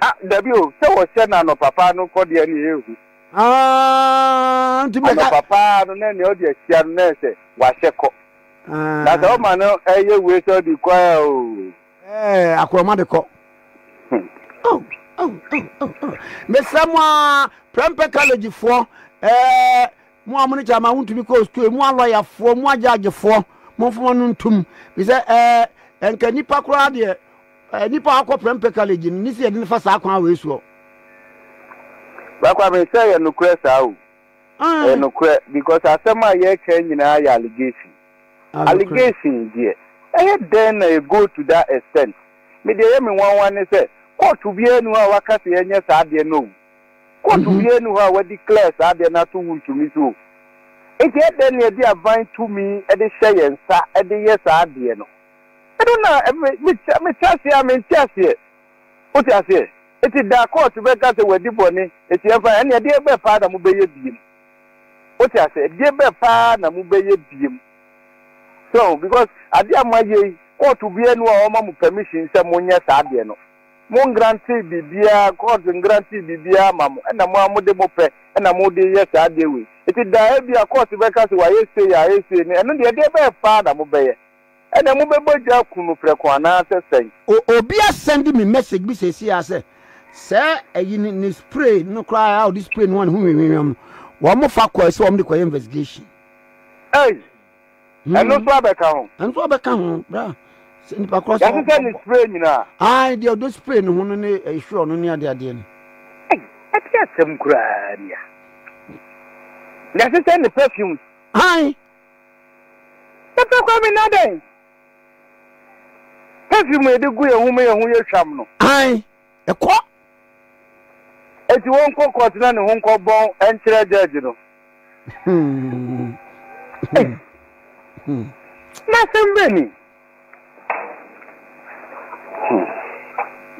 Ah, dabi o, sɛ wɔhyɛ no anɔpa paa no nkɔ deɛ ne ɛhu. Ah, nti bɛka. Anɔpa paa no na nea ɔde ahyia no na ɛsɛ wahyɛ kɔ. Ah. Na sɛ ɔma no ɛyɛ wei sɛ ɔde kɔ a o. Ɛɛ akorɔma de kɔ. Oh, oh, oh, oh, oh. Mesrɛ mo a prɛmpɛ collegefoɔ ɛɛ mo a mo ne kyama wontumi kɔɔ sukuu mo a lɔyafoɔ mo agyagyefoɔ momfoma no ntom bi sɛ ɛɛ nka nipa koraa deɛ ɛɛ nipa akɔ prɛmpɛ college no ne si yɛde no fa saa kwan wei soɔ. Bakwame sɛ yɛ nokorɛ saa o. Ɛyɛ nokorɛ because asɛm a yɛreka nyinaa yɛ allegation. Allegation deɛ ɛyɛ dɛn na ɛ go to that extent? Me deɛ ɛyɛ me nwanwa ne sɛ kɔɔto biara nni hɔ a waka sɛ yɛnyɛ saa adeɛ no o. Kɔɔto biara nni hɔ a wa declare saa adeɛ no ato wontumi so o. Nti ɛdɛn na yɛde aban tumi de hyɛ yɛn nsa de yɛ saa adeɛ no? Ɛno na me me te aseɛ a mente aseɛ. Wote aseɛ? Nti da a kɔɔto bɛka sɛ wadi bɔne nti ɛmfa ɛnneɛ ɛdeɛ bɛn paa na mobɛyɛ biom? Wote ase? Ɛdeɛ bɛn paa na mobɛyɛ biom? So ahu? Because adeɛ a moayɛ yi, kɔɔto biara nni hɔ a ɔma mo permission sɛ monyɛ saa adeɛ no. Mongrantee biribiara, kɔɔto ngrantee biribiara mma mo, ɛna mo ara mode mopɛ na mode reyɛ saa adeɛ wei. Nti daa ebia kɔɔto bɛka sɛ wayɛ sei, ayɛ sei no, ɛno deɛ ɛdeɛ bɛn paa na mobɛyɛ? Ɛnna mobɛbɔ gya aku no prɛko anaasɛ sɛn? O obi asɛnde me message bi seesei ara sɛ sɛ ayi ne ne spray no koraa a ɔde spray no a ne ho nwewewem no wɔn fa kɔɛ sɛ wɔn de kɔyɛ investigation. Ei! Ɛno nso abɛka ho. Ɛno nso abɛka ho bra. Sɛ nipa korɔ sɛ. Yɛsesɛ ne spray nyinaa. Ayi deɛ ɔde spray ne ho no ne ɛhwerɛ no ne adeɛ adeɛ no. Ei! Ɛte asɛm koraa ni a. Yɛsesɛ ne perfumes. Ayi Pɛtɛ kɔ me na dɛn? Perfume a yɛde gu yɛn ho ma yɛn ho yɛ hwam no. Ae, kɔ. Enti wɔnkɔ kɔɔt na ne ho nkɔ bɔn nkyerɛ gyɛɛgye no. Ei! N'asɛm bɛn ni? Hmm.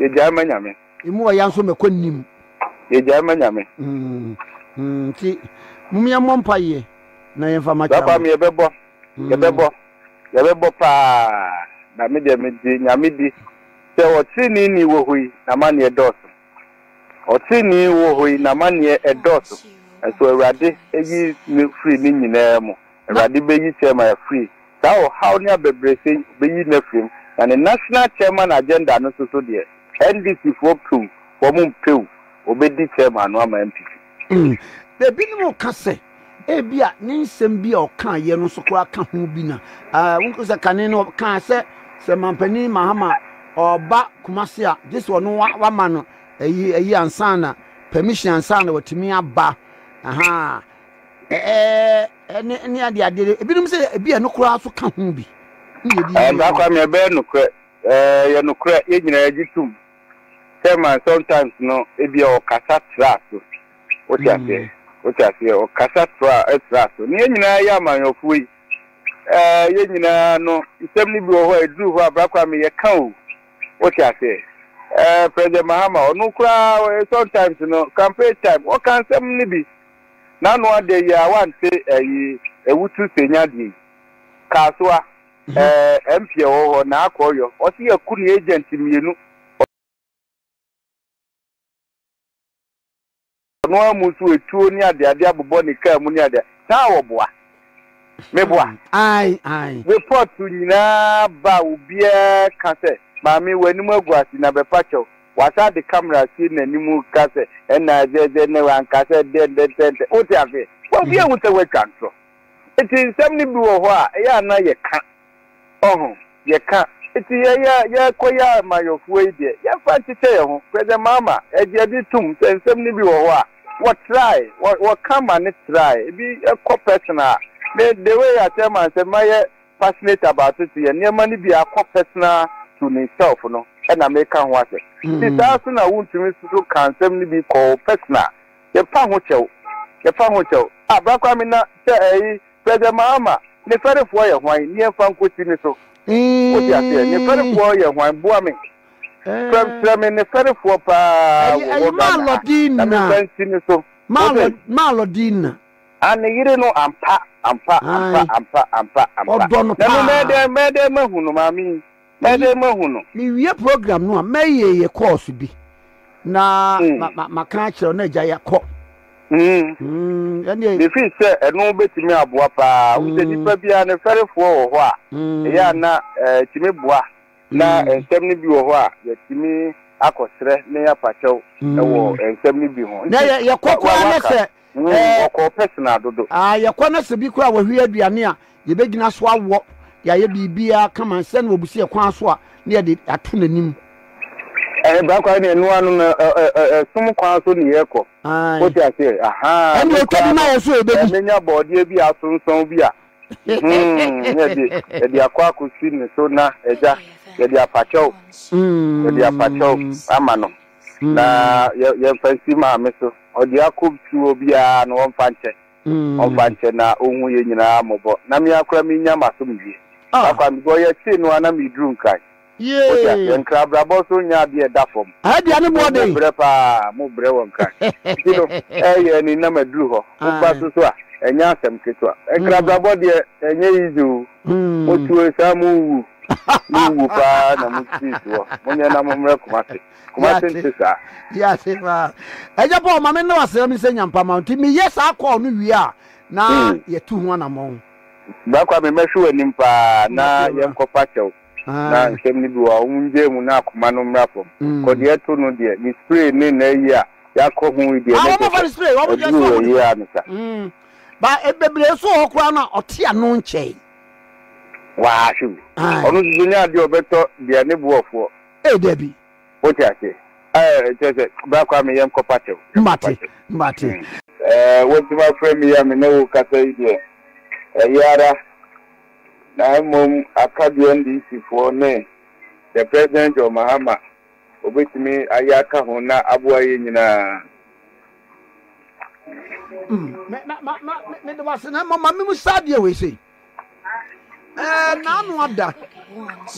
Yɛgyae ma Nyame. Emu ɔya nso mɛkɔ nnim. Yɛgyae ma Nyame. Hmm. Hmm. Nti, mum yɛmmɔ mpa yɛ na yɛmfa makyɛ ama. Saa mi yɛbɛbɔ. Hmm. Yɛbɛbɔ. Yɛbɛbɔ paa. Na me deɛ megye Nyame di sɛ ɔtrenee ni wɔ hɔ yi na maneɛ dɔɔso. Ɔtrenee wɔ hɔ yi na maneɛ ɛdɔɔso. Nso Awurade ayi me firi ne nyinaa mu. Awurade bɛyi Selma afiri saa ɔhaw ne abɛbrɛsɛ yi, ɔbɛyi no afiri mu. Na ne National Chairman agenda no nso so deɛ, NDC foɔ piw, wɔn mpew, wɔbɛdi Selma no ama NPP. Ebinom ka sɛ ebia ne nsɛm bi a ɔkaeɛ no nso koraa ka ho bi na wohu sɛ kane no ɔkaa sɛ sɛ mampanin Mahama ɔba Kumasi a gye sɛ ɔno wama no ayi ayi ansa na permission ansa na watumi aba. Aha. ɛɛ ne ne ade ade ebinom sɛ ebi a ɛno koraa so ka ho bi ne yɛ di yɛ ɛmpa kwa mɛ bɛyɛ nokorɛ ɛɛ yɛ nokorɛ yɛ nyinaa gye tom sɛ man sometimes no ebi a ɔkasa tra so wote aseɛ wote aseɛ ɔkasa tra tra so ne yɛ nyinaa yɛ amanyɔfoɔ yi ɛɛ yɛ nyinaa no nsɛm no bi wɔ hɔ a ɛduru hɔ a bra kwa mɛ yɛ ka o wote aseɛ ɛɛ president mahama ɔno koraa sometimes no campaign time ɔka nsɛm no bi N'ano adɛ yi a wante ɛyi ɛwutu senya deɛ yi. Kasoa, ɛɛ MP ɛwɔ hɔ na akɔ ɔyɔ. Ɔse yaku ne agent mmienu. Ɔno ara mu nso etuo ne adeade abobɔ ne car mu ne adeade. Saa a wɔboa. meboa. Report nyinaa ba a obiara ka sɛ maame w'anim agu ase na bɛpa kyɛw. Wasan de camera si n'anim ka sɛ ɛna sɛ sɛ na wanka sɛ dɛn dɛn dɛn dɛn. Wote aseɛ? Obiara hu sɛ woatwa ntorɔ. Nti nsɛm no bi wɔ hɔ a ɛyɛ a na yɛka. Ɔho, yɛka, eti yɛn a yɛrekɔ yɛ amayɔfoɔ yi deɛ, yɛmfa nkyekyɛ yɛn ho. President Mahama, ɛgye ɛde tom sɛ nsɛm no bi wɔ hɔ a, wɔtrae, wɔ, wɔka ma no trae. Ebi kɔ personal a, me, the way a Chairman sɛ mayɛ passionate about it, yɛ nneɛma no bi a akɔ personal to meself no na meka ho asɛm. Nti saa so na wontumi nso ka nsɛm no bi kɔ wo personal. Yɛmfa ho kyɛw, yɛmfa ho kyɛw. Ah, Bra Kwame na sɛ ɛyi, Sɛ dɛm a, ama ne fɛrefoɔ yɛ hwan? Neɛ mfa nkɔsi ne so. Wote aseɛ? Ne fɛrefoɔ yɛ hwan? Boa me. Frɛ, kyerɛ me ne fɛrefoɔ pa ara wɔ hɔ Ghana ha, na memfa nsi ne so. Wote? Malɔdina. Ah, ne yere no, ampa, ampa, ampa, ampa, ampa, ampa. Ɔdɔ no pa ara. Na me, mɛyɛ dɛn, mɛyɛ dɛn mahu no, maame yi? Bɛyɛ dɛn mahu no? Mewie program no a, mɛyɛ yɛ kɔɔso bi na hmm. maka akyerɛ wo na agya yɛakɔ. Hmm. Hmm, Mefiri sɛ ɛno bɛtumi aboa paa. Wo sɛ nnipa biara no fɛrefoɔ wɔ hɔ a, ɛyɛ a na ɛtumi eh, boa na nsɛm no bi wɔ hɔ a yɛtumi akɔsrɛ ne apakyɛw wɔ nsɛm no bi ho. Na yɛkɔ koraa na sɛ Woo wɔkɔɔ personal dodo. Aah yɛkɔ na sɛ bi koraa wahwie aduane a yɛbɛgyina so awɔ de ayɛ biribiara kama sɛ na wabusi ɛkwan so a na yɛde ato n'anim. Ɛɛ bra koraa ne ɛnoa no no ɛsom kwan so ne yɛkɔ wote aseɛ ahaa ɛne ɔtwa bi ma yɛn so yɛbɛdi. Mɛnya bɔɔdeɛ bi a asonsɔn bi a hmm yɛde yɛde akɔ akɔsi ne so na agya yɛde afakyɛw yɛde afakyɛw ama no Na yɛ yɛmfa nsi Maame so. Ɔdua kɔm tu obiara no ɔmfa nkyɛ. Ɔmfa nkyɛ na ɔnhu yɛn nyinaa mmɔbɔ. Na me ara koraa mennya m'asomdwoeɛ. Saa kwan no, yɛtee no ara na mereduru Nkran. Wote aseɛ? Nkran abrabɔ nso nyɛ adeɛ a ɛda fam. Nti no, mobrɛ pa ara, mobrɛ wɔ Nkran. Nti no, ɛreyɛ ani na maduru hɔ. Woba so so a, ɛnyɛ asɛm ketewa. Nkran abrabɔ deɛ, ɛnyɛ easy o. Motuo nsa mo nwu, mo nwu paa na mo sii soɔ, monyɛ na mo mmerɛ Kumasi, Kumasi nte saa. Yɛase paa. Agya Paul, ma me ne wo asra me sɛ nyampa ma wo nti meyɛ saa call no wie a na yɛtu ho anamɔn. Bra Kwame mɛhwe w'anim paa na yɛnkɔ fa kyɛw na nsɛm no bi wɔ hɔ a wɔn ngyae mu na akoma no mmra fam. Kɔ deɛ ɛto no deɛ ne spray ne n'ayi a yɛakɔ ho yi deɛ ne de hwɛ, aduru wɔ ayi a no sa. Ba e bebree nso wɔ hɔ koraa no a ɔte ano nkyɛe. Waa hwɛ bi. Ae. Ɔno nso so nyɛ adeɛ a ɔbɛtɔ deɛ ne boɔ foɔ. Ee dabi. Wote aseɛ. Ɛɛ kyerɛ sɛ bra koraa me yɛnkɔ pakyɛw. Yɛnkɔ Mate, pakyɛw. mate. Mm. Ɛɛ wotumi afrɛ me yi a me ne wo kasa yi deɛ ɛyɛ ara na mmom aka deɛ NDC foɔ ne the President John Mahama obetumi ayɛ aka ho na aboa yɛn nyinaa. mede wase na mmɔ ma me mu saa deɛ wei sei ɛɛ n'ano ada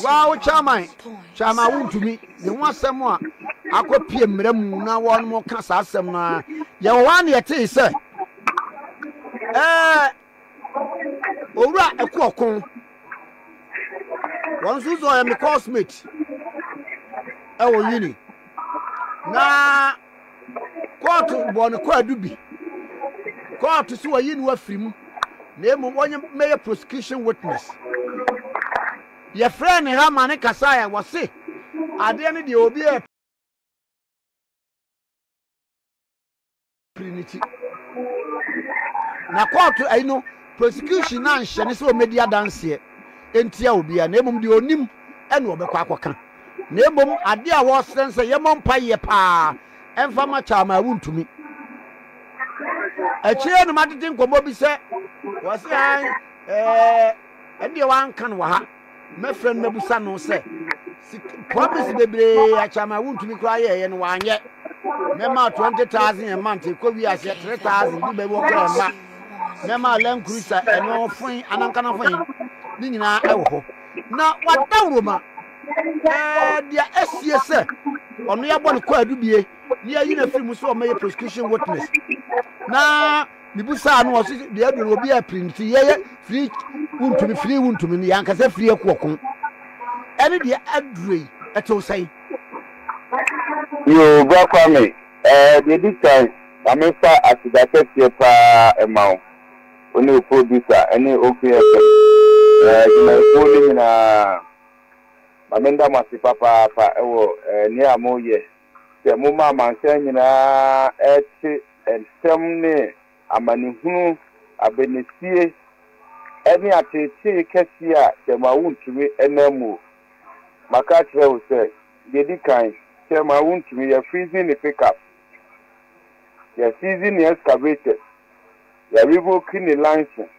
waa wo chairman chairman wontumi ne ho asɛm a akɔpie mmerɛ mu na wɔn mo ka saa asɛm no a yɛwɔ hɔ a ne yɛtee sɛ ɛɛ owura ɛko ɔko wɔn nso sɛ ɔyɛ me cosmate ɛwɔ uni na kóòtù bɔ ne kwaadu bi kóòtù so wɔyi ne wafiri mu na emu wɔnyɛ mɛyɛ prosecution witness yɛfrɛ ne ha ma ne kasa yɛ wɔse adeɛ no deɛ obi yɛ. pere ne ti. Na kɔɔto ayi no, prosecution no anhyɛ ne sɛ ɔmmɛdi adanseɛ ntia obiara, na mmom deɛ ɔnim ɛna ɔbɛkɔ akɔka. Na mmom adeɛ a wɔresrɛ sɛ yɛmmɔ mpaeɛ paa mfa ma Kyaama a wontumi. Akyire no matete nkɔmmɔ bi sɛ wɔse ae ɛɛ ɛndeɛ wɔanka no wɔ ha. Mɛfrɛ no mɛbusa no sɛ promise bebree akyama a wontumi koraa yɛɛyɛ no wanyɛ. Mɛma 20,000 a month ɛkɔ wi aseɛ 3,000 de bɛbi wɔ koraa mma. Mɛma Land Cruiser ɛno foe anankana foe ne nyinaa ɛwɔ hɔ. Na wadawuroma ɛɛ deɛ asie sɛ ɔno yɛabɔ no kwaadu bie ne yɛayi no afiri mu sɛ ɔmɛyɛ prosecution witness na mebusaa no ɔse deɛ ɛdo no obi apiri no sɛ yɛyɛ firi wontumi firi wontumi no yɛ ankasa firi akuɔko ɛne deɛ aduro yi ɛtew sɛn yoo bra kwa me ɛɛ deɛ di kan ma mefa aseda kɛseɛ paa ɛma wo wo ne producer ɛne oke ɛfɛ ɛɛ dwumayɛkuo no nyinaa ma menda mo ase papaapa ɛwɔ ɛɛ nea moyɛ sɛ momma amansan nyinaa te ntɛm ne amanehunu, abɛnesie, ne ateetee kɛseɛ a kyɛrema wontumi nna muo. Maka akyerɛ wo sɛ, deɛ ɛdi kan, kyɛrema wontumi, yɛ freezing ne pickup, yɛ season ne excavators, yɛ revoke ne license,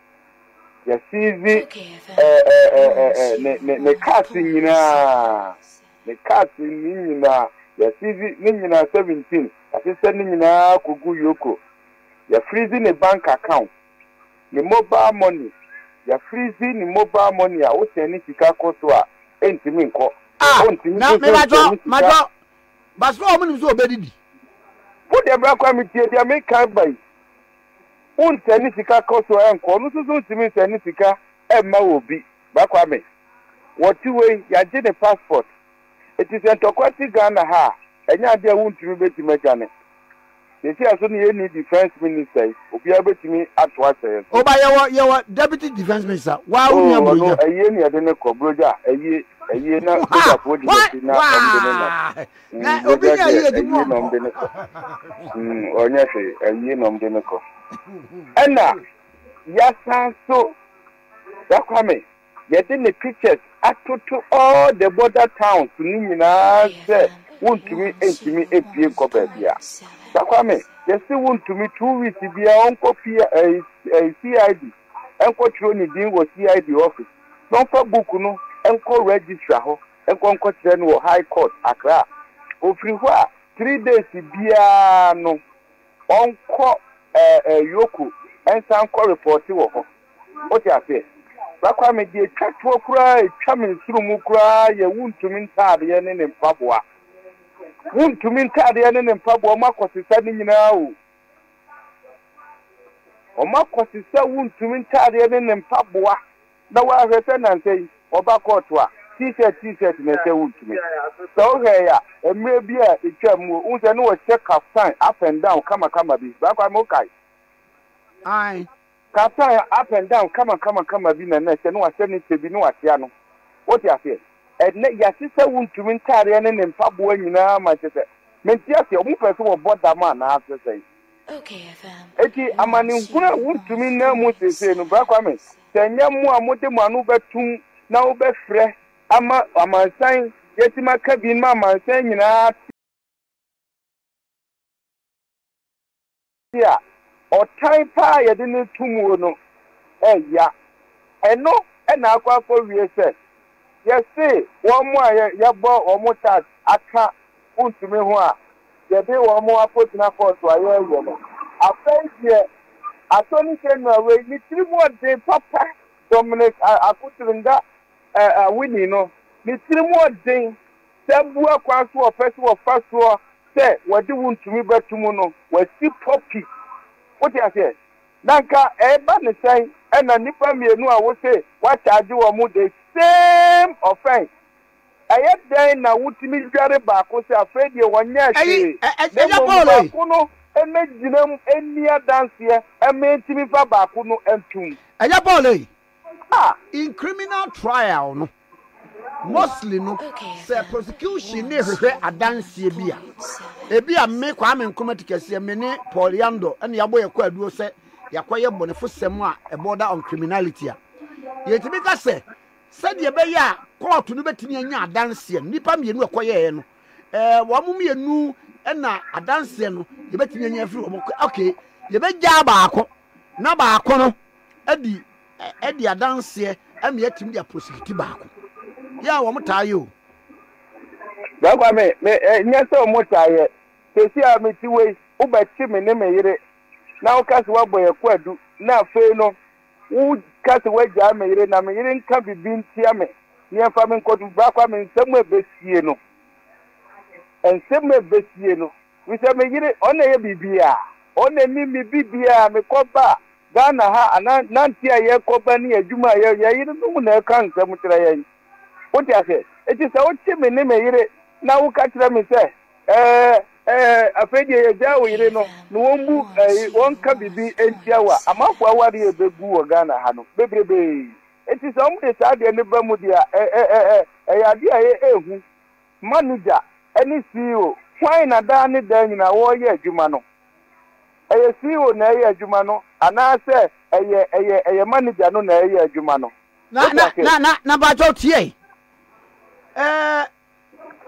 yɛ season ne cars nyinaa. Ne castle no nyinaa yɛ seize ne nyinaa seventeen yasesɛ ne nyinaa kogu yoko yɛ freeze ne bank account ne mobile money yɛ freeze ne mobile money a wo sɛne sika kɔ so a ɛntimi nkɔ Ah na me badwo madwo but na wɔn nim sɛ ɔbɛdidi. Wo deɛ bra kora me tie deɛ me kan ba yi wo nsɛne sika kɔ so ɛnkɔ ɔno nso so ntimi nsɛne sika ɛmma obi. Ba Kwame, wɔte wei, yɛagye ne passport. Enti sɛ ntɔkwa si Ghana ha a, ɛnyɛ adeɛ a wontumi bɛtumi adwane. Seesei a so na yɛnni Defence Minister yi, obiara bɛtumi ato ahyɛ yɛn so. Oba, yɛwɔ, yɛwɔ Deputy Defence Minister, waa wo nua Burogya. Oh, ɔno, ayie na yɛde no kɔ, Burogya, ayie, ayie na sogyafoɔ di n'akyi na wɔn de no nam. Na obi nyɛ ayie adi mu ɔnkɔ. Ayie na wɔn de no kɔ. Ɔnyɛ hwee, ayie na wɔn de no kɔ. Ɛna, yɛasan so. Bra Kwame, yɛde ne pictures atoto all the border towns no nyinaa sɛ wontumi ntumi mpie nkɔ baabia. Bra Kwame, yɛse wontumi two weeks biaa ɔnkɔ CID nkɔ twerɛ ne din wɔ CID office na ɔmfa book no nkɔ registrar hɔ nkɔ nkɔ kyerɛ no wɔ High Court Accra. Ɔfiri hɔ a three days biaa no Ɔnkɔ ɛɛ Yoko nsa nkɔ repɔte wɔ hɔ. Wote aseɛ? Bra Kwame, deɛ ɛtwa toɔ koraa, ɛtwa me nsunumu koraa yɛ wontumi ntaadeɛ ne ne mpaboa. Wontumi ntaadeɛ ne ne mpaboa, wɔn akɔsesa ne nyinaa o. Wɔn akɔsesa wontumi ntaadeɛ ne ne mpaboa. Na woahwɛ sɛ nnansa yi wɔba kɔɔto a, T-shirt T-shirt na ɛhyɛ wo ntumi. Sɛ wohwɛe a, mmerɛ bi a ɛtwaam mu wohu sɛ na wɔhyɛ kaftan up and down kama kama bi. Bra Kwame wokae? Ae. Kaftan up and down kama kama kama bi na na ɛhyɛ, na wahyɛ ne kyɛ bi na wahyia no. Wote aseɛ? Ɛnnɛ yɛahyehyɛ wo ntumi ntaadeɛ ne ne mpaboa nyinaa ma kyerɛ sɛ, mente aseɛ, wɔn pɛ sɛ wɔbɔ dam anaa sɛ sɛn? Enti amanehunu a wontumi nna mu seesei no, Bra Kwame, Sɛ ɛnyɛ mo a mode mo ano bɛtom na mobɛfrɛ ama amansan, yɛatumi aka bi ma amansan nyinaa ate a, ɔtan pa ara a yɛde no reto muo no reyera. Ɛno na akɔ akɔwie sɛ, yɛse wɔn a yɛbɔ wɔn tax aka wontumi ho a, yɛde wɔn akɔgyina kɔɔto a yɛreyɛ no. Afei deɛ Attorney General wei, ne tiri mu ɔden papa, Dominic Akotseringga Awini no, ne tiri mu ɔden sɛ abua kwan so wɔpɛ sɛ wɔfa soɔ sɛ wɔde wo ntumi bɛto mu no, wasi pɔpi. Wote aseɛ? Na nka ɛreba ne sɛn ɛna nnipa mmienu a wose woakyaagye wɔn the same offence, Ɛyɛ dɛn na wotumi dware baako sɛ afei deɛ wɔnyɛɛ hwee, na mmom baako no mmɛgyinam nni adanseɛ mma ɛntumi mfa baako no ntom? Ɛyɛ Paul ei. In criminal trial no, mostly no, sɛ prosecution no rehwehwɛ adanseɛ bi a, ebia me, Kwame Nkrumah Tikɛseɛ, me ne Paul Yandor na yɛabɔ yɛn kwaduo sɛ yɛakɔyɛ bɔnefosɛm a ɛbɔɔda on criminality a, yɛtumi ka sɛ Sɛdeɛ ɛbɛyɛ a kɔɔto no bɛtumi anya adanseɛ no, nnipa mmienu a ɛkɔyɛeɛ no, wɔn mmienu na adanseɛ no yɛbɛtumi anya afiri wɔn. Ok, yɛbɛgyaa baako na baako no adi ɛdi adanseɛ ɛma yɛatumi de aprosecute baako. Yɛ a wɔn taa yɛ o. Bɛkwa me, me nyɛ sɛ wɔn taa yɛ. Sɛsi a mete wei, wobɛkye me ne me yere na woka sɛ woabɔ yɛn kwadu na afei no Woka sɛ woagyaa me yere, na me yere nka biribi ntia me. Nea ɛfa me nkɔso bra koraa, me nsam a ebesie no, nsam a ebesie no, efisɛ me yere, ɔno na ɛyɛ biribiara. Ɔno na ɛne me biribiara, mekɔba a, Ghana ha, anaa nante a yɛkɔba ne adwuma a yɛyɛ, yɛn yerenom na ɛka nsɛm kyerɛ yɛn. Wote aseɛ? Enti sɛ wokye me ne me yere, na woka kyerɛ me sɛ, Ɛɛ, ɛɛ, afei deɛ yɛgyaa wo yere no na wɔmmu ɛɛ, wɔnka biribi ntia wo a, amanfoɔ awareɛ a ɛbɛgu wɔ Ghana ha no, bebrebee. Enti sɛ wɔde saa adeɛ no ba mu deɛ a, ɛ, ɛ, ɛ, ɛ, ɛyɛ adeɛ a ɛyɛ hu. Manegya ne CEO, hwan na daa ne daa nyinaa wɔreyɛ adwuma no? Ɛyɛ CEO na ɛreyɛ adwuma no anaasɛ ɛyɛ, ɛyɛ, ɛyɛ manegya no na ɛreyɛ adwuma no? Na, Wote na, aseɛ? na, na, na mpakyɛw tie. Ɛɛ,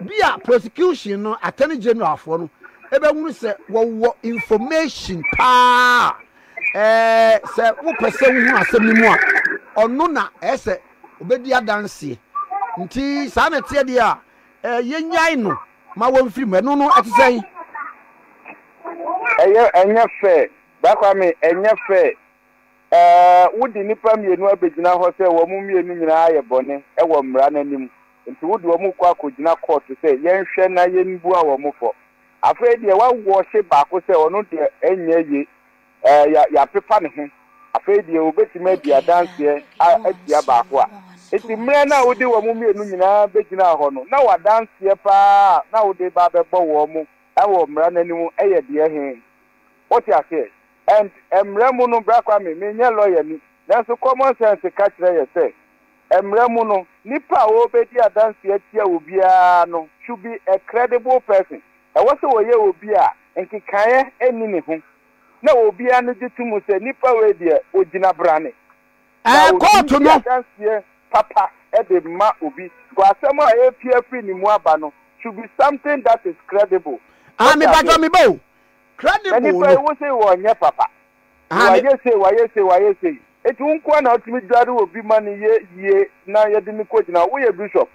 Bi a prosecution no attorney general foɔ no ɛbɛhunu sɛ wɔwɔ information paa a ɛɛ sɛ wopɛ sɛ wohunu asɛm no mu a ɔno na ɛɛ sɛ obɛdi adanseɛ nti saa na ɛteɛ deɛ a ɛɛ yɛnyae no ma wɔmfiri mu ɛno no ɛte sɛn ɛyɛ ɛnyɛ fɛ bakwame ɛnyɛ fɛ. Ɛɛ, wode nnipa mmienu abɛgyina hɔ sɛ wɔn mmienu nyinaa ayɛ bɔne wɔ mmara no anim, nti wode wɔn rekɔ akɔgyina kɔɔto sɛ yɛnhwɛ na yɛnbua wɔn fɔ. Afei deɛ woawɔɔhye baako sɛ ɔno deɛ ɛnyɛ ye, ɛɛ, yɛ, yɛapepa ne ho. Afei deɛ wɔbɛtumi adi adanseɛ a, atia baako a. Nti mmerɛ no a wode wɔn mmienu nyinaa bɛgyinaa hɔ no, na w'adanseɛ pa ara a na wode reba abɛbɔ wɔn wɔ mmara no anim yɛ deɛ he? Wote aseɛ? And mmara mu no, Bra Kwame, menyɛ lɔyani, nanso common sense ka kyerɛ yɛ sɛ mmara mu no, nipa a ɔrebedi adanse atia obiara no should be a credible person. Ɛwɔ sɛ ɔyɛ obi a nkekaeɛ nni ne ho na obiara no gye to mu sɛ nipa wei deɛ ɔgyina brane na ɔtumi di adanseɛ papa de ma obi. But asɛm a ɛrepue afiri ne mu aba no should be something that is credible. Ah, me patro me bo. Krade boo no. Na nipa yi wose wɔnyɛ papa. Na wayɛ sei, wayɛ sei, wayɛ sei. Enti wo nkoa na wotumi dware obi ma no yɛ yie na yɛde no kɔgyina hɔ. Woyɛ bishop.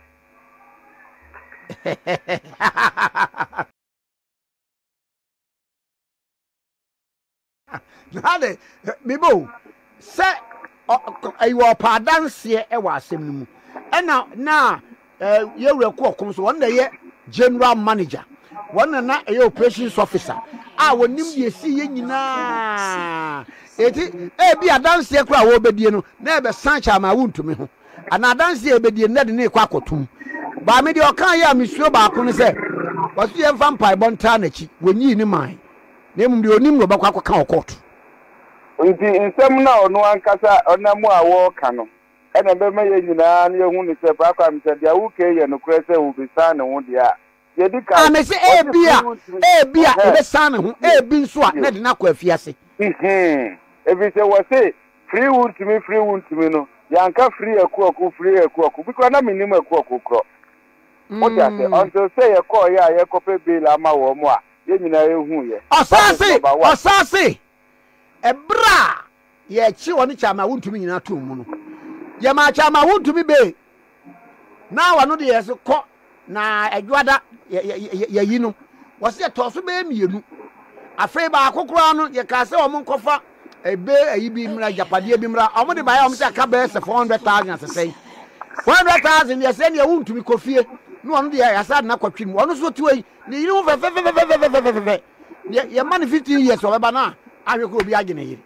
Hade, meba o. Sɛ ɛyi wɔ ɔpɛ adanseɛ wɔ asɛm no mu. Ɛna na Eh, yɛ wura kɔ ɔkom so wɔn na ɛyɛ general manager wɔn na na ɛyɛ operations officer a wɔnim deɛ ɛsii yɛ nyinaa ɛti ɛbi eh, adanseɛ koraa wɔbɛdie no na ɛbɛsan kyɛ ama wontumi ho anaa adanseɛ ɛbɛdie no na de ne kɔ akɔtom baa me deɛ ɔka yɛ a mesuo baako no sɛ wɔso yɛmfa mpaebɔ ntaa n'akyi wɔnyii ne man na mmom deɛ ɔnim na ɔbɛkɔ akɔka ɔkɔɔto nti nsɛm no a ɔno ankasa ɔnam a wɔreka no Ɛna ɛbɛma yɛn nyinaa na yɛahu no sɛ faako a mesɛ deɛ wo kɛi yɛ nokorɛ sɛ ɔbɛsan ne ho deɛ a, deɛ ɛdi kan, Ah, mese ɔgye ebia, firi wo tirim, ebia ɛhɛn, ɔbɛsan ne ho, tie, ebi nso a na tie, ɛde no akɔ afiase. nhee, ɛfiri sɛ wɔse firi wo ntumi, firi wo ntumi no, yɛanka firi akuaku, firi akuaku, bi koraa na mennim akuaku korɔ, wote aseɛ, Mm. until sɛ yɛkɔɔeɛ a yɛkɔpɛ bail ama wɔn a, yɛn nyinaa yɛhuuiɛ, Ɔsan Baptist se, Number One, ɔsan se, Ɛberɛ a Yɛkye ɔne Kyɛamawuntumi nyinaa too mu no, Yɛmaa Kyɛamawuntumi bee, na ɔno deɛ Yɛse kɔ, na Ɛdwoada Yɛyi no, wɔse Yɛtɔɔ so bɛyɛ mmienu. Afei baako koraa no, Yɛkaa sɛ wɔn nkɔfa ebe ayi bi mmra, agyapadeɛ bi mmra, wɔn de baeɛ a wɔn sɛ aka bɛyɛ sɛ 400,000 asesɛn. 400,000 deɛ sɛ neɛ wuntumi kɔ fie, na ɔno deɛ Yɛasa de no akɔtwe mu, ɔno nso te hɔ yi, ne yere ho fɛfɛfɛfɛfɛfɛfɛfɛfɛfɛ. Yɛ yɛma no fifteen years ɔbɛba na ahwɛ koro obi agye ne yere.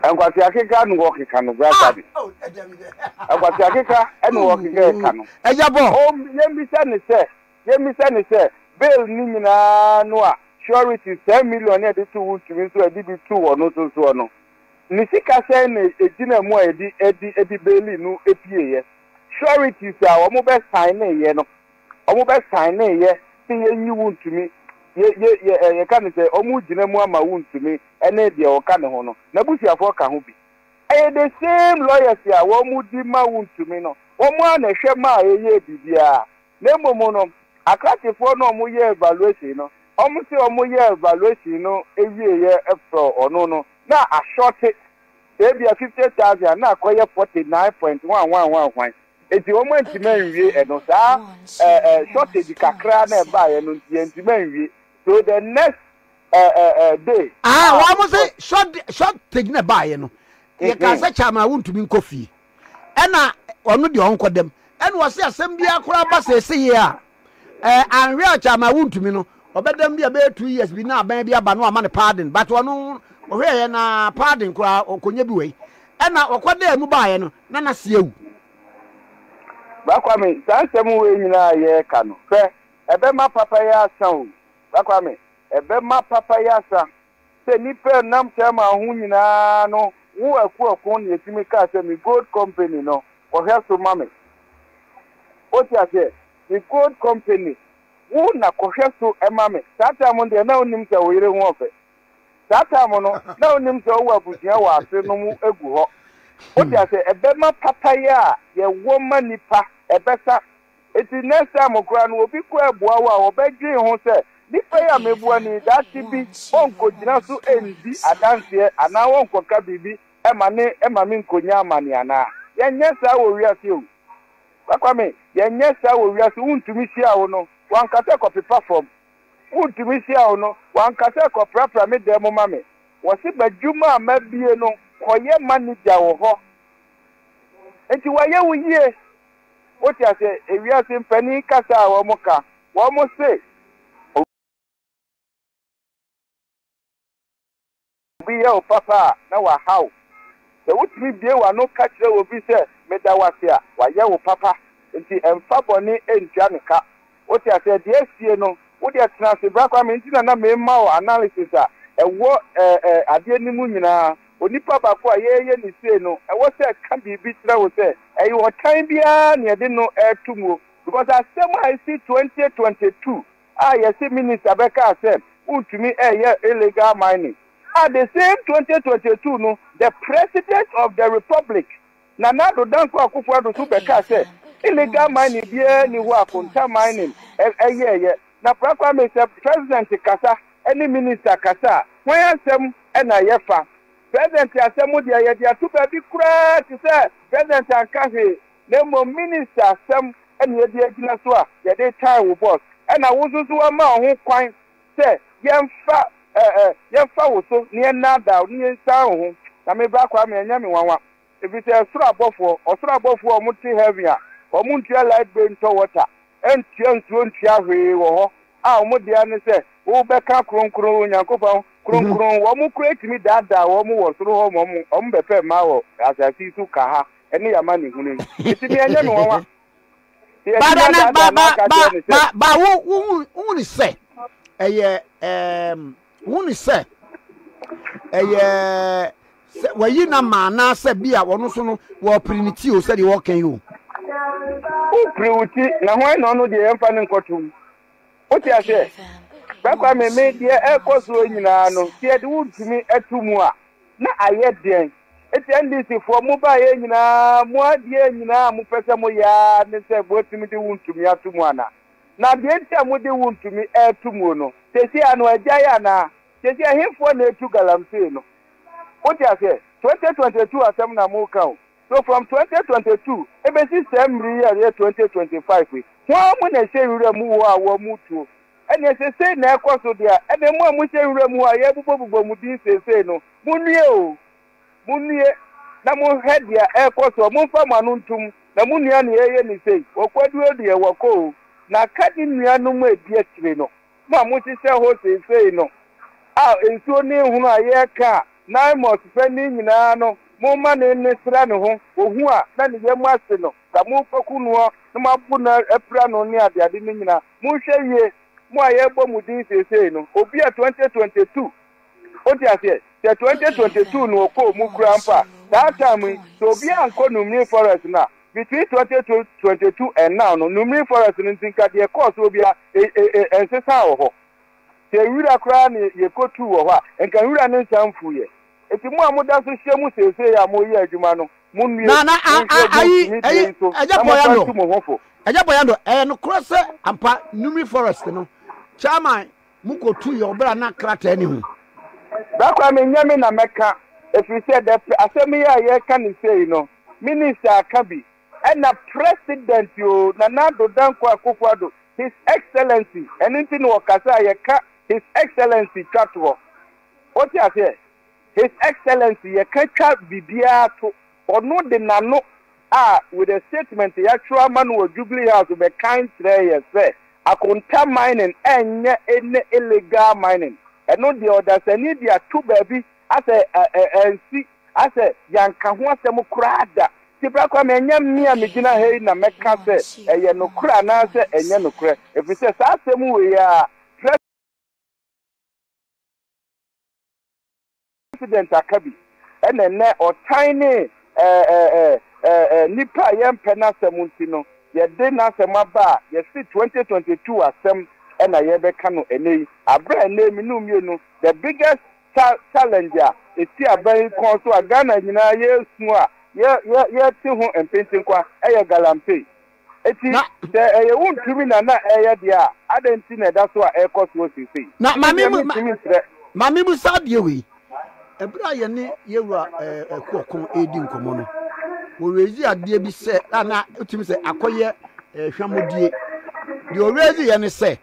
Nkwasi akeka ne wɔ keka no bra sabi. Nkwasi akeka ne wɔ keka ɛka no. Ɛyɛ bɔ. O yɛn bi sɛ ne sɛ yɛn bi sɛ ne sɛ bail ne nyinaa no a surety ten million ne yɛde to wo ntumi nso ɛde bi to wɔ no so soɔ no ne sika sɛn na egyina mu a yɛde ɛde ɛde bail no epie yɛ sureties a wɔn bɛ sign ne yɛ no. Ɔmo bɛ saenee yɛ se yɛ nyi wo ntumi yɛ yɛ yɛ ɛ yɛ ka ne sɛ ɔmo gyina mu ama wo ntumi ɛne deɛ ɔka ne ho no n'abusuafoɔ ka ho bi ɛyɛ the same lawyers a ɔmo di ma wo ntumi no ɔmo ara na ɛhwɛ maa yɛ yɛɛ biribiara na mmom no akrakyefoɔ no ɔmo yɛɛ valuation no ɔmo se ɔmo yɛɛ valuation no ɛwieɛ ɛfrɔ ɔno no na ashorte sɛ ebia fifty thousand a na akɔyɛ forty nine point one one one hwan. Enti wɔantumi anwie ɛno. Saa eh, eh, shortage kakra na ɛbaeɛ no nti, yɛantumi anwie. So the next eh, eh, eh, day. Ah, ah wɔn sɛ shortage na ɛbaeɛ no. Mm-hmm. Yɛka sɛ kyama wontumi nkɔ fie. Ɛna ɔno deɛ ɔnkɔ dɛm. Ɛna ɔse asɛm biara koraa ba sɛ ɛsɛ yie a. Eh anhwɛ a kyama wontumi no ɔbɛdam bi a bɛyɛ two years bi na aban bi aba no ama no pardon but ɔno ɔhwɛɛyɛ na pardon koraa ɔkɔnya bi wei ɛna ɔkɔ dɛ mu baeɛ no na nase awu. Bakwame saa nsɛm wei nyinaa yɛɛka no hwɛ ɛbɛma papa yi asa o bakwame ɛbɛma papa yi asa Sɛ nnipa ɛnam Chairman ho nyinaa no wo akuɔko na ɛtumi kaa sɛ me gold company no kɔhwɛ so ma me wote aseɛ me gold company wo na kɔhwɛ so ma me saa time no deɛ na wonim sɛ wo yere ho ɔfɛ saa time no na wonim sɛ wowɔ abusua wɔ ase nom gu hɔ wote aseɛ ɛbɛma papayɛ a yɛwɔ ma nnipa ɛbɛsa Enti next time koraa no obi kɔ abua wo a wɔbɛdwen ho sɛ, nipa yi a mebua no yi daakye bi ɔnkogyina so ndi adanseɛ anaa ɔnkɔka biribi ma ne mame nkonya amane anaa? Yɛnyɛ saa wɔ wiase o. Ba Kwame, yɛnyɛ saa wɔ wiase, wontumi hyia wo no wanka sɛ kɔpepa fam, wontumi hyia wo no wanka sɛ kɔprapra me dan mu ma me, wɔse b'adwuma a mabie no kɔyɛ manager wɔ hɔ. Enti wayɛ wo yie. Wote aseɛ? Ewiase mpanin kasa a wɔka. Wɔse obi yɛ wo papa a, na waha wo. Sɛ wotumi bue w'ano ka kyerɛ obi sɛ meda wo ase a, wayɛ wo papa. Enti mfa bɔne ntua no ka. Wote aseɛ? Deɛ asie no, wo deɛ tena ase bra koraa, me nti na na mema wo analysis a ɛwɔ ɛɛ ɛɛ adeɛ no mu nyinaa. Onipa baako a yɛreyɛ no sei no, ɛwɔ sɛ ɛka biribi kyerɛ wo sɛ ɛyɛ ɔtan biara na yɛde no reto muo. Because asɛm a ɛsi twenty twenty two a yɛse minister bɛkaa sɛ wontumi reyɛ illegal mining, a the same twenty twenty two no the president of the republic, Nana Addo Dankwa Akufo Addo nso bɛkaa sɛ, Illegal mining biara nni hɔ a Konta Mining yɛeɛ. Na Pra Kwame, sɛ President kasa ne Minister kasa a, hwan asɛm na yɛfa? President asɛm deɛ, yɛde ato baabi koraa te sɛ President anka hwee, na mmom Minister asɛm na yɛde agyina so a yɛde retan wo boss. Ɛna wo nso so wɔama wo ho kwan sɛ yɛmfa yɛmfa wo so na yɛnnaadaa wo na yɛnsian wo ho. Na me Bra Kwame, ɛnyɛ me nwanwa. efisɛ soro abɔfoɔ, ɔsoro abɔfoɔ a wɔte heaven a wɔntua light bill ntɔ water ntua nsuo ntua hwee wɔ hɔ a wɔn dea ne sɛ wobɛka kronkron Onyankopɔn kronkron, wɔn koraa tumi daadaa wɔn wɔ soro hɔ ma wɔn wɔn bɛpɛ mmaa wɔ asase yi so ka ha ɛne yɛn amanehunu yi nti me ɛnyɛ me nwanwa sɛ yɛtumi Bada na ba adaadaa ba n'akadeɛ ne ba sɛ ba ba wo wo wo ni sɛ ɛyɛ ɛɛm Wohunu sɛ ɛyɛ sɛ wayi no ama anaasɛ bi a ɔno nso no wɔrepere ne ti o sɛdeɛ wɔreka yi o? Wopere wo ti, na hwan na ɔno deɛ yɛmfa no nkɔtom? Wote aseɛ? Saa Kwame me deɛ ɛrekɔ soɔ nyinaa no, sɛ yɛde wo ntumi to mu a, na ayɛ deɛn? Enti NDCfoɔ, mobaeɛ nyinaa, mo adeɛ nyinaa a mopɛ sɛ moyɛ ara ne sɛ moatumi de wo ntumi ato mu anaa? Na deɛ nti a mode wo ntumi reto muo no, seesei ano agyae anaa? Seesei ɛhefoɔ na ɛretu galamsey no? Wote aseɛ? 2022 asɛm na moreka o. So from 2022 ɛbɛsi saa mmere yi a ɛyɛ 2025 yi, hwan mu na ɛhyɛ nwura mu hɔ a wɔretuo? Ɛnneɛ sɛ sei na ɛrekɔ so deɛ a, ɛnneɛ mo a mohyɛ nwura mu hɔ a yɛrebobɔbobɔ mo din seesei no, monnue o. Munnue na monhwɛ deɛ ɛrekɔ soɔ, momfa mo ano ntom, na mo nua na yɛreyɛ no sei, ɔkwaduo deɛ wɔkɔ o, na ka ne nuanom a ɛdi akyire no, mo a mohyehyɛ hɔ seesei no, a nsuo ne nhono a yɛreka a Naimus pɛ ne nyinaa no, momma ne nne sra ne ho, ɔhu a na ne yam ahye no, na morekɔku noɔ na moabo no apira no ne adeade no nyinaa, monhwɛ yie, mo a yɛrebɔ mo din seesei no, Obia 2022. Wote aseɛ? Sɛ twenty twenty two no ɔkɔɔ mu koraa mpo a, saa time yi, sɛ obiara ankɔ Numney Forest no a, between twenty twenty two and now no, Numney Forest no nti nka deɛ ɛkɔɔ soɔ biara, e, e, e, ɛnsesaa wɔ hɔ. Sɛ nwura koraa na yɛkɔtuu wɔ hɔ a, nka nwura no nsan mfuiɛ. Enti mo a moda so hyia mu seesei a moreyɛ adwuma no, monnue, Na, na, a, a, monhwɛ mo ayi, ntumi deɛ ɛyɛ, yi so, ɛyɛ na momfa Boyando. ntu mo ho fo. Ɛyɛ Boyando. Ɛyɛ nokorɛ sɛ, ampa, Numney Forest no, Chairman Mokotu yɛ ɔbra na krataa ni ho. Da koro a menyɛ me na mɛka ɛfiri sɛ dɛ pɛ asɛm yi a yɛreka no sei no Minister aka bi ɛna President o Nana Addo Dankwa Akufo Addo His Excellency ɛno nti na ɔkasa a yɛka His Excellency twa toɔ wote aseɛ. His Excellency yɛka twa biribiara to, ɔno de n'ano a with a statement yɛatwerɛ ama no wɔ Jubilee House bɛkan kyerɛɛ yɛn sɛ Akonta mining ɛnyɛ any illegal mining, ɛno deɛ ɔdasani de ato baabi asɛ ansi asɛ yɛanka ho asɛm koraa da. Nti Bra Kwame ɛnyɛ me a megyina ha yi na mɛka sɛ ɛyɛ nokorɛ anaasɛ ɛnyɛ nokorɛ ɛfiri sɛ saa asɛm wei ara Pres. President Akabi na ɛnnɛ ɔtan ne nipa a yɛmpɛ n'asɛm nti no yɛde n'asɛm aba a yɛse 2022 asɛm na yɛrebɛka no ɛnnɛ yi. Aberɛ a ɛnnɛ me no mmienu the biggest challenge a ɛsi aban yi kɔn so a Ghana nyinaa yɛresu a yɛte ho mpentenkwa ɛyɛ Galamsey. Enti, Na. sɛ ɛyɛ wo ntumi na na ɛreyɛ deɛ a, adɛn nti na ɛda so a ɛrekɔ soɔ seesei? Na ma Medeɛ memu ma mentumi nkyerɛ. ma memu saa adeɛ wei. Ɛberɛ a yɛne yɛn wura ɛɛ ɛko ɔko redi nkɔmmɔ no, wɔ raise adeɛ bi sɛ a na wotumi sɛ akɔyɛ ɛɛ hwammɔdie. Deɛ ɔ raise yɛ ne sɛ,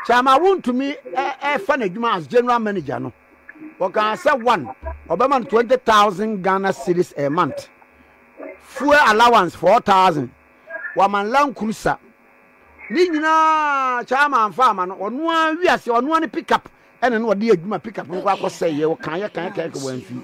Kyama wontumi ɛ ɛfa n'adwuma as general manager no, ɔkaa sɛ one, ɔbɛma no twenty thousand Ghana cedis a month. fuel allowance four thousand wama land cruiser ne nyinaa chairman anfa ama no ɔno ara wi ase ɔno ara ne pick up ɛna no ɔde adwuma pick up no kɔ akɔsɛ yɛ ɔkan yɛ kan yɛ kan kɔ wɔn fi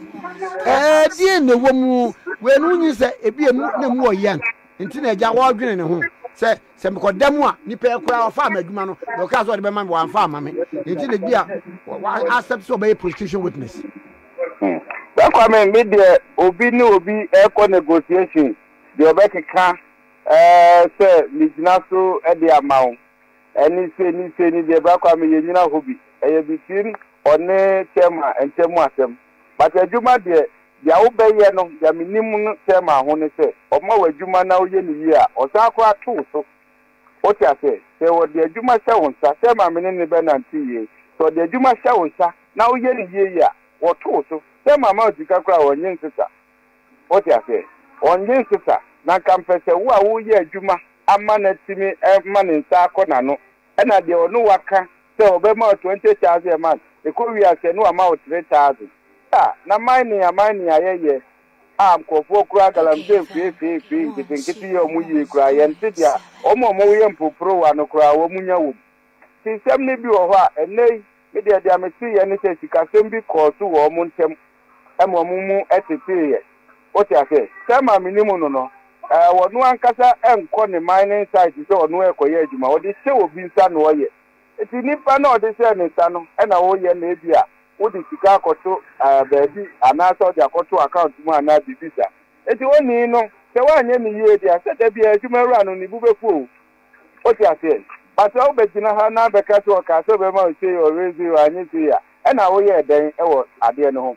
ɛɛ deɛ na ɛwɔ mu wɔn no nyi sɛ ebi emu na emu wɔ yɛn nti na ɛgya wɔdwene ne ho sɛ sɛ mekɔ da mu a nipa yɛ koraa ɔfa ama adwuma no na ɔka sɛ ɔde bɛma mi wɔn anfa ama mi nti na ebi a wɔ accept sɛ ɔbɛyɛ prostitution witness. Sɛ Kwame me deɛ obi ne obi ɛkɔ negotiation deɛ ɔbɛkeka sɛ me gyina so de ama wo ɛne sei ne sei ne deɛ Bra Kwame yɛ nyina hɔ bi ɛyɛ between ɔne chairman ntamu asɛm but adwuma deɛ deɛ wo bɛyɛ no deɛ me nim no chairman ho ne sɛ ɔma wo adwuma na wo yɛ no yie a ɔsan koraa to wo so Wote aseɛ? Sɛ wɔde adwuma hyɛ wo nsa, sɛ Maame ne ne bɛnante yie, sɛ wɔde adwuma hyɛ wo nsa na woyɛ no yie yie a, wɔto wo so. Sɛ Maame a sika koraa ɔnnye nsesa. Wote aseɛ? Ɔnnye nsesa. Na nka mpɛ sɛ wo a woreyɛ adwuma ama no atumi ama ne nsa akɔ n'ano, ɛna deɛ ɔne wo aka sɛ ɔbɛma wo twenty thousand a month, ɛkɔwie a sɛ na wama wo three thousand. Saa na aman ne aman nyinaa yɛyɛ. a nkorɔfoɔ kura galamsey feefeefee nketenkete yɛ wɔn yie koraa, yɛnte deɛ wɔn a wɔyɛ mporoporowa no koraa wɔnya wɔ mu. Nti nsɛm no bi wɔ hɔ a, ɛnnɛ yi, me deɛ deɛ mete yɛ ne sɛ sikasɛm bi kɔɔ so wɔ wɔn ntam ma wɔn mu teteeɛ. Wote aseɛ? Selma menim no no, ɔno ankasa nkɔ ne mining site sɛ ɔno rekɔyɛ adwuma, ɔde hyɛ obi nsa na ɔyɛ. Enti nipa no a ɔde hyɛɛ ne nsa no na woyɛ na ebia wode sika akɔto baabi anaasɛ wode akɔto account mu anaa biribi saa. Enti onii no sɛ woanyɛ no yie deɛ sɛ da biara adwuma wura no ne bo bɛfu o. Wote aseɛ? But sɛ wobɛgyina ha na abɛka sɛ ɔkaa sɛ ɔbɛma wo sei ɔwere sei ɔannye sei a ɛna woyɛɛ dɛn wɔ adeɛ no ho?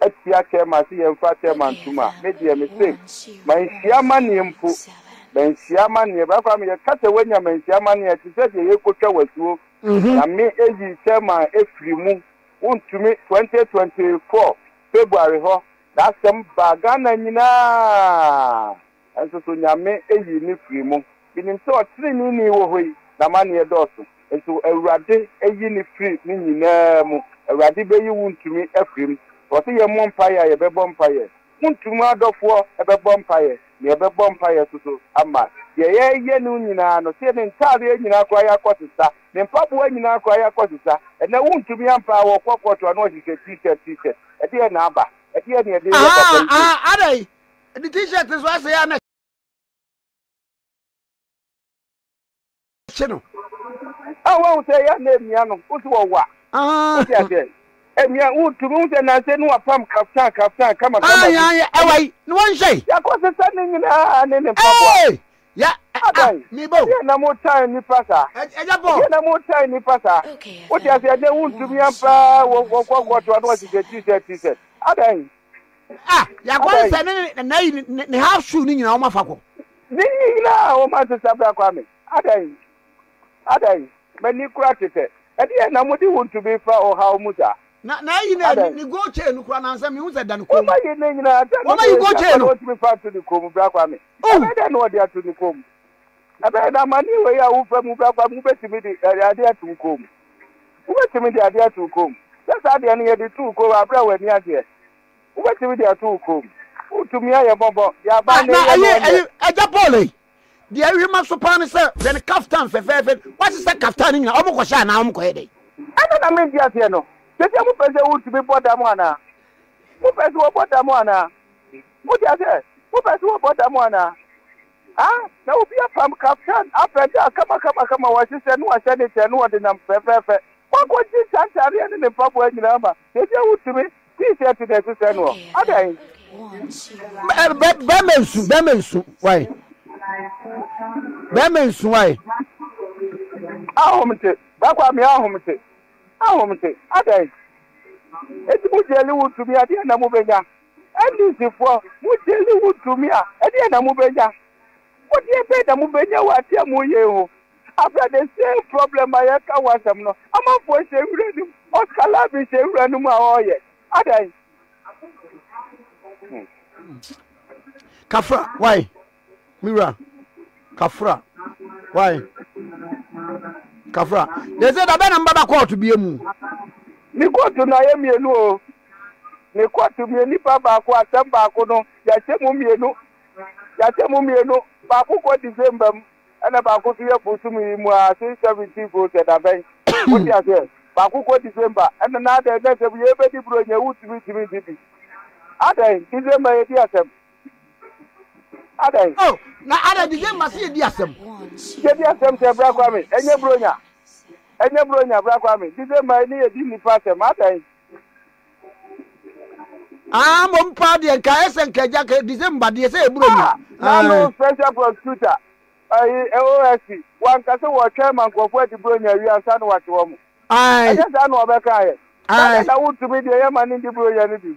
atia Thelma se yɛmfa Thelma ntom a, me deɛ mese manhyia amaneɛ mpo, manhyia amaneɛ, Bra Kwame yɛka sɛ wanya manhyia amaneɛ a, ɛte sɛ deɛ yɛrekɔtwa wo asuo, Nyame ayi Thelma afiri mu, wontumi, 2024 February hɔ, saa asɛm baa Ghana nyinaa. Nso so Nyame ayi no firi mo. Menim sɛ ɔteneneeni wɔ hɔ yi, n'amanneɛ dɔɔso. Nso Awurade ayi no firi ne nyinaa mu. Awurade bɛyi wo ntumi afiri mu. Sɛ ɔse yɛmmɔ mpaeɛ a, yɛbɛbɔ mpaeɛ. Mo ntumi adɔfoɔ bɛbɔ mpaeɛ, na yɛbɛbɔ mpaeɛ nso so ama deɛ yɛreyɛ no nyinaa no. Seɛ, me ntaadeɛ nyinaa koraa ayɛ akɔsesa, me mpaboa nyinaa koraa ayɛ akɔsesa. Ɛnnɛ wo ntumi ampa a, wɔkɔ kɔɔto a na wɔhyehyɛ T-shirt, T-shirt. Ɛdeɛn na aba? Ɛdeɛn na yɛde reyɛ papa yi sei? Aa, aa, adɛn? Ɛde t-shirt nso asɛe a na ɛhyɛ no. A wɔn sɛ yɛ na emia no o so wɔwa. O ti asɛ. Emia o tu mi sɛ nanse no apam kaftan kaftan kama kama. A yan yɛ ɛwa yi no wɔn hyɛ. Ya kɔ sisa ne nyinaa ne ne mpaboa. Ee ya a mi bo. Ɛdeɛ na mo tan nipa saa. Ɛdeɛ bɔ. Ɛdeɛ na mo tan nipa saa. O ti asɛ ɛdeɛ o tu mi ampa wɔ kɔ kɔ to ano wɔn sisɛ t-shirt t-shirt. Adan. Ah, yɛakɔ ne sɛ ne ne na yi ne ne half shoe ne nyinaa wɔn afa kɔ. Ne nyinaa wɔn asesa abira kwa me. Adan, adan, m'ani kura tetɛ. Ɛdeɛ na mo de wo ntumi fa ɔhaw mu saa. Na na yi ne ne ne gold chain no kura nansa mi hu sɛ da ne kɔn mu. Wɔn ayi ne nyinaa da ne kɔn mu. Wɔn ayi gold chain no. Wɔn ntumi fa ato ne kɔn mu bira kwa me. Ɛbɛyɛ dɛ na wɔde ato ne kɔn mu. Ɛbɛyɛ na amanneɛ wei a wofa mu bɛba mu betumi de adeɛ ato wo kɔn mu. Wobetumi de adeɛ ato wo kɔn mu. Sɛ saa adeɛ no yɛde to wo kɔn mu bere a w'ani agyeɛ. Wobetumi de ato wo kɔn mu. Wotumi ayɛ mmɔbɔ de aba Ah, na na ɛyɛ no ɛyɛ ɔnyɛ. ɛyɛ Agya Paul ei. Deɛ ɛhwɛ ma so paa ne sɛ hwɛ ne kaftan fɛfɛɛfɛ no. Wasesa kaftan no nyinaa. Wɔn kɔhyɛ anaa wɔn kɔyɛ dɛn? Ɛno na mente aseɛ no. Sɛsɛ mopɛ sɛ wotumi bɔ dam anaa? Mopɛ sɛ wɔbɔ dam anaa? Mote aseɛ? Mopɛ sɛ wɔbɔ dam anaa? Ha na obi apam kaftan afɛde a kamakamakama wɔahyehyɛ na wɔahyɛ no kyɛn na wɔde nam fɛfɛɛfɛ. Wɔakogye ntantareɛ ne ne mpaboa nyinaa ma baabi a wotumi T-shirt na ɛhyehyɛ noɔ. Adɛn? Bɛrima nsu, bɛrima nsu, wai. Bɛrima nsu, wai. Ahomte, bakwa me ahomte, ahomte, adɛn? Eti mo gyeli wotumi adeɛ na mobɛnya. NDCfoɔ, mo gyeli wo tumi a, ɛdeɛn na mobɛnya? Bodeɛ bɛn na mobɛnya wɔ adeɛ a moyɛ yi ho? Afra the same problem a yɛka ho asɛm no, amanfoɔ hyɛ nwura no mu, Oscar Larvin hyɛ nwura no mu a ɔreyɛ adɛn? Kafra, why? Me wura, Kafra, why? Kafra, they say da bɛn na mbaba kɔɔto bie mu? Ne kɔɔto no ayɛ mmienu o. Ne kɔɔto mu yɛ nipa baako, asɛm baako no, yɛahyɛ mu mmienu, yɛahyɛ mu mmienu, baako kɔ December mu, ɛna baako nso yɛ bosome yi mu ara, since seventeenth o sɛ da bɛn, wote aseɛ, baako kɔ December, ɛna na adɛn na sɛ yei bɛdi buronya wotumi ntumi nte bi, adɛn, December yɛdi asɛm, adɛn. Oh, na adɛn December sɛ yɛdi asɛm. Yɛdi asɛm sɛ bra kwa me, ɛnyɛ buronya, ɛnyɛ buronya bra kwa me, December ne yɛdi nnipa asɛm, adɛn. Ah, mo mpa deɛ nka ayɛ sɛ nka agya ka December deɛ sɛ eburo mu. Nanu ah, special prosecutor ayi eh, OSP wanka sɛ wɔtwɛn ma nkurɔfoɔ adi buronya awie ansa na wɔakye wɔn. Ɛnyɛ saa na wɔbɛka ayɛ. Saa na wotumi deɛ yɛ ma ne ndi buronya no bi.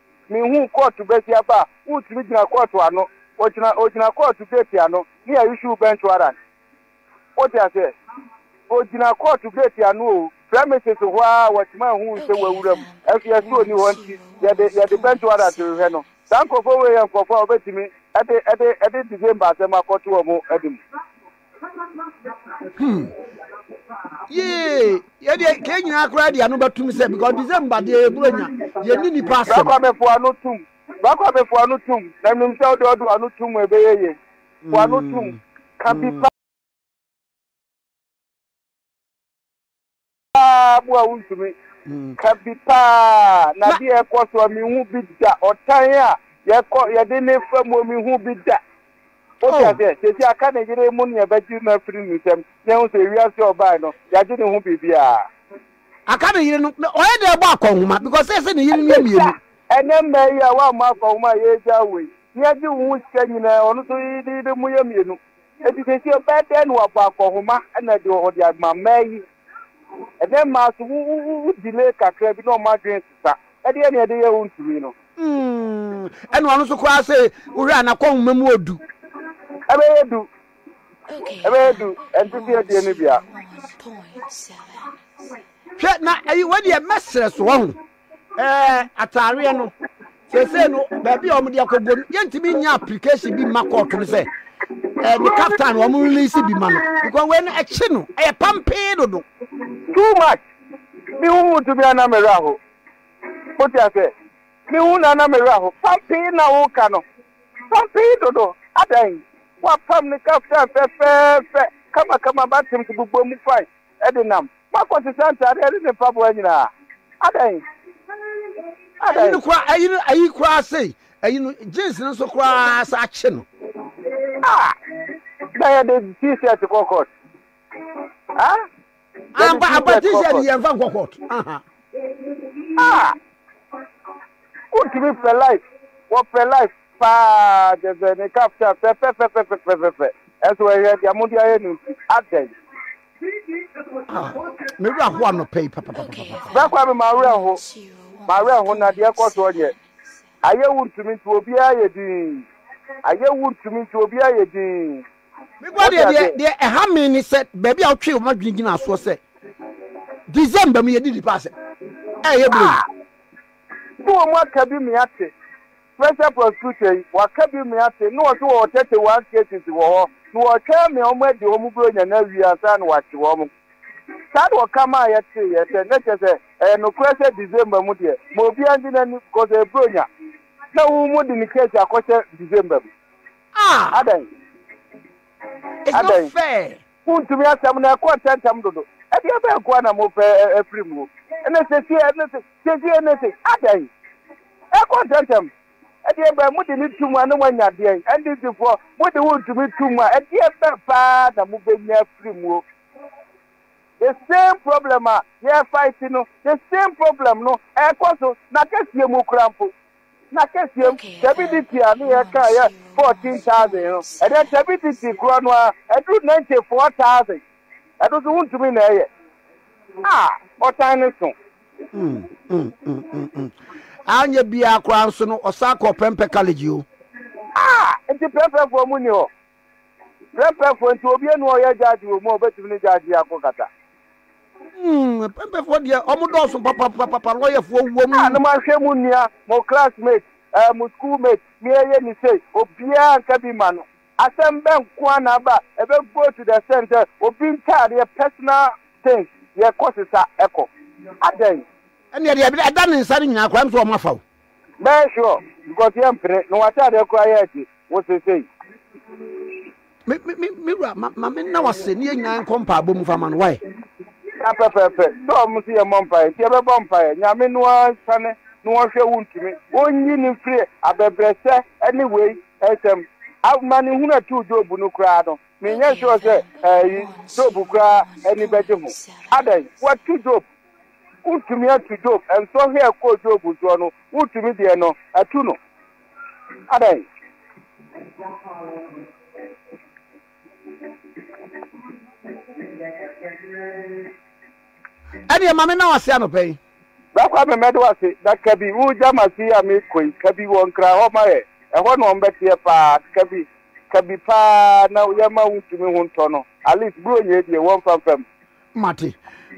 Mehuu kɔɔto basiaba a wotumi gyina kɔɔto ano. Ogyina, ogyina kɔɔto geeti ano, ne a issue bench warrant. Wote aseɛ? Ogyina kɔɔto geeti ano o, premises hɔ ara a wɔtumi ahuu sɛ wawura mu, nso yɛse onni hɔ nti yɛde, yɛde bench warrant rehwɛ no. Saa nkorɔfoɔ wei yɛ nkorɔfoɔ a wɔbɛtumi de, de, de December asɛm akɔto wɔn anim. hmm. yee yɛdeɛ kɛ nyinaa koraa de ano bɛtom sɛ because december deɛ yɛburo nya yɛni nnipa asɛm bɛkɔ abɛfo ano tom bɛkɔ abɛfo ano tom na menim sɛ wode ɔdo ano tom ɛbɛyɛ yɛ fo ano tom hmm. ka bi pa Paa bu a wontumi ka bi paa na deɛ ɛkɔ so a menhu bi da ɔtan a yɛkɔ yɛde ne fa mu menhu bi da wote oh. aseɛ sɛsi aka ne yere mu ne yɛbɛgye no afiri ne nsam na ɛhu sɛ ewiase a ɔbae no yɛagye ne ho biribiaa aka ne yere no ɔyɛ dɛ ɛbɔ akɔnhoma because sɛ sɛ ne yere no yɛ mmienu ɛnɛ mmaa yi a woammɔ akɔnhoma a yɛagya wei ne yɛgye wo ho sika nyinaa ɔno so yɛde mu yɛ mmienu Enti seesei ɔbɛyɛ dɛn na wabɔ akɔnhoma na de ɔde ama mmaa yi? Ɛnnɛ mmaa nso, wo, wo, wo, wo delay kakra bi na wɔn adwene sesa. Ɛdeɛ na yɛde yɛ wo ntumi no. Mm, ɛna ɔno nso koraa se wohwɛ a n'akɔnhoma mu odu. Ɛbɛyɛ du. Ɛbɛyɛ du. Ɛnte sɛ yɛdeɛ no bia. Hwɛ na ɛyi wɔ deɛ mɛsrɛ so wɔ ho. ɛɛ ataareɛ no sese no baabi a wɔde akɔbɔ no yɛntumi nya application bi mma kɔɔto no sɛ ɛɛ ne captain wɔn release bi ma no because wei no ɛkye no ɛyɛ pampee dodo. too much mi hu mu tumi ana mi ra ho o ti ase mi hu na ana mi ra ho pampee na o ka no pampee dodo adan wa pam ne captain fɛfɛɛfɛ kamakama ba tem ti gbogbo mu fine de nam. Moakɔ te sɛ ntaadeɛ ne ne mpaboa nyinaa. Adɛn? Adɛn? Ayi no koraa, ayi no, ayi koraa sei, ayi no, jeans no nso koraa sɛ akye no. Ah! Na yɛde t-shirt kɔ court. Ah! Ampa, ampa t-shirt yɛmfa nkɔ court. Aha. Ah! Wontumi fɛ life, wɔfɛ life paa kyɛ sɛ ne ka fɛ fɛfɛfɛfɛfɛfɛ ɛso ɛhwɛ deɛ mode ayɛ no nti adɛn. Ah, me wura ho anɔpɛ yi papapapapa. Bɛkwa me ma wura ho, ma wura ho na deɛ kɔ so ɔnyɛ. Ayɛ wo ntumi nti obiara yɛ din, ayɛ wo ntumi nti obiara yɛ din. Me boa deɛ deɛ deɛ ɛha me ne sɛ baabi a wotwee wɔn adwene gyina soɔ sɛ December mu yɛdi nipa asɛm ɛyɛ bere yi. So wɔn aka bi me ate? Special prosecutor yi waka bi me ate na ɔse wɔwɔ thirty one cases wɔ hɔ na wɔretwɛn me wɔn adi wɔn bronya no awie ansa na wɔakye wɔn. Saa na ɔka maa yɛteeɛ sɛ na kyerɛ sɛ ɛyɛ nokorɛ sɛ December mu deɛ ma obiara ngye n'ani because ɛyɛ bronya na wɔn mu de ne case akɔhyɛ December mu. Ah! Adɛn? It's not Adɛn? fair. Muntumi asɛm no ɛkɔ ntɛmntɛm dodo. Ɛdeɛ bɛn nko ara na mopɛ afiri mu? Ɛnna sesie ɛnna se sesie ɛnna se adɛn? Ɛkɔ ntɛmntɛm. Ɛdeɛ bɛn mode ne tum a na moanya adeɛ? NDCfoɔ mode wontumi tum a ɛdeɛ bɛn paa na mobɛnya afiri mu? The same problem a yɛrefight no, the same problem no ɛrekɔ so, n'akɛseɛ mu koraa mpo. Na kɛseɛm, tabi de ti a ne yɛ kaa yɛ fourteen thousand no, ɛdɛ tabi de ti korɔ no ara aduru ninety four thousand. Ɛno nso wontumi na ɛyɛ. Ah! Ɔtan no so. Mm, mm, mm, mm, mm. Anyɛ biara koraa nso no, ɔsan kɔɔ Prempeh College o. Ah! Nti Prempehfoɔ mu nni hɔ? Prɛmpɛfoɔ nti obi enu ɔyɛ judge wɔ mu a obetumi ne judge yi ako kata. Hmm, pɛmpɛfoɔ deɛ ɔmo dɔɔso papapapapa lɔyɛfoɔ wɔ mu. Ah, no manhwɛ mu nua, mo classmate, eh, mo schoolmate, me ɛyɛ ni sei, obiara nka bi ma no. Asɛm bɛ nko a na aba, ɛbɛ go to the extent sɛ obi ntaadeɛ, personal things, yɛ kɔ sesa ɛkɔ. Adɛn? Ɛnneɛ deɛ ɛda ne nsa no nyinaa koraa nso ɔmo afa o. Bɛyɛ sure because yɛ mpere na w'ataadeɛ koraa yɛ ɛde wo se sei. Me me me me wura ma ma me nna w'ase ne yɛ nyinaa nkɔ mpaabɔ mu fa ma no why. Na pɛpɛpɛ sɛ ɔmo nso yɛ mmɔ mpaeɛ nti yɛbɛbɔ mpaeɛ Nyame no ara nsane na ɔnhwɛ wo ntumi ɔnyi no mfiri abɛbrɛsɛ ɛne wei nsɛm Amanehunu a ɛtoo Job no koraa no menyɛ sure sɛ ɛyi Job koraa ani bɛgye ho Adɛn? Watu Job Wontumi antu Job nsoɔ hwɛ ɛkɔɔ Job nsoɔ no, wotumi deɛ no atu no. Adɛn? Ɛneɛ ma me na wase anɔpa yi. Bra Kwame mɛde wo ase na kabi wo Gyamase yi a mekɔ yi kabi wɔ nkra hɔ ma yɛ ɛhɔ na ɔmbɛteɛ paa kabi kabi paa na yɛma wontumi ho ntɔ no at least bronyɛ deɛ wɔmfa mfam mate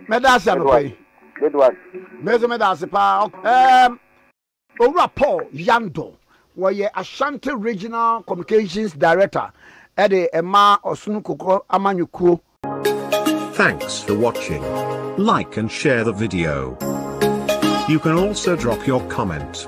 mɛda ase anɔpa yi mɛsɛ mɛda ase paa um, owura paul yando wɔyɛ ashanti regional communications director ɛde ɛma ɔsono kokɔ amanyɔkuo Thanks for watching. Like and share the video. You can also drop your comment.